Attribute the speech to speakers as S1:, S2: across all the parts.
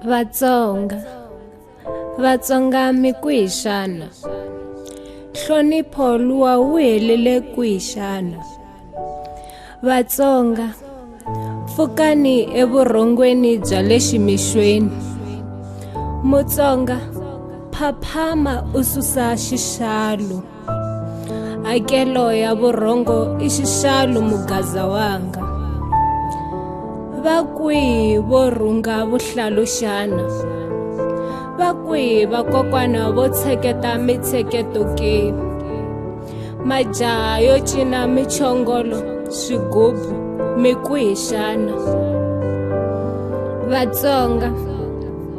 S1: vatsonga vatsonga mi kwihi xana nhlonipho luwa wu helele kwihi xana vatsonga pfukani evurhongweni bya le ximixweni mutsonga phaphama u susa xixalu hakelo ya vurhongo i xixalu mugaza wanga va kwihi vo rhunga vuhlalu xana va kwihi vakokwana vo tsheketa mitsheketo ke majaha yo cina michongolo swigubu mi ku hi xana vatsonga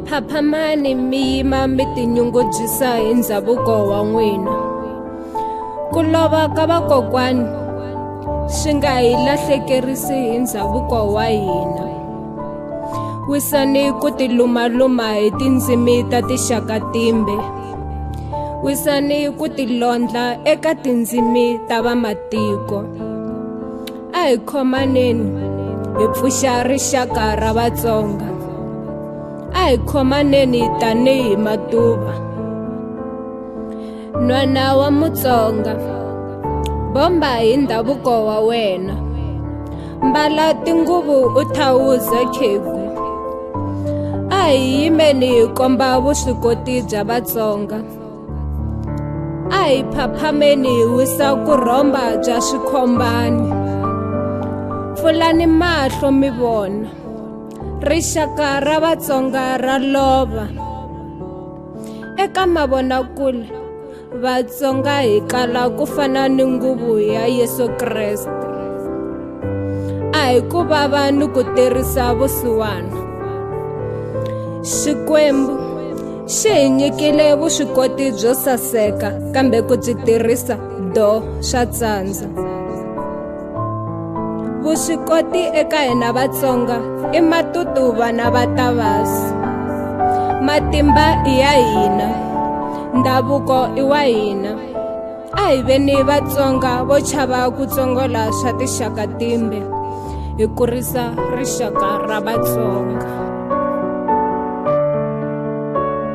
S1: phaphamani mi yima mi tinyungubyisa hi ndhavuko wa n'wina ku lova ka vakokwani swi nga hi lahlekerisi hi ndhavuko wa hina wisani ku tilumaluma hi tindzimi ta tixaka timbe wisani ku tilondla eka tindzimi ta vamatiko a hi khomaneni hi pfuxa rixaka ra vatsonga a hi khomaneni tanihi matuva nwana wa mutsonga bomba hi ndhavuko wa wena mbala tinguvu u thawuze khegu a hi yimeni hi komba vuswikoti bya vatsonga a hi phaphameni hi wisa ku rhomba bya swikhombani pfulani mahlo mi vona rixaka ra vatsonga ra lova eka mavonakule vatsonga hi qala ku fana ni nguvu ya yesu kreste a hi ku vava ni ku tirhisa vusiwana xikwembu xi hi nyikile vuswikoti byo saseka kambe ku byi tirhisa do swa tsandza vuswikoti eka hina vatsonga i matutuva na vatavasi matimba i ya hina ndhavuko i wa hina a hi veni vatsonga vo chava ku tsongola swa tixaka timbe hi kurisa rixaka ra vatsonga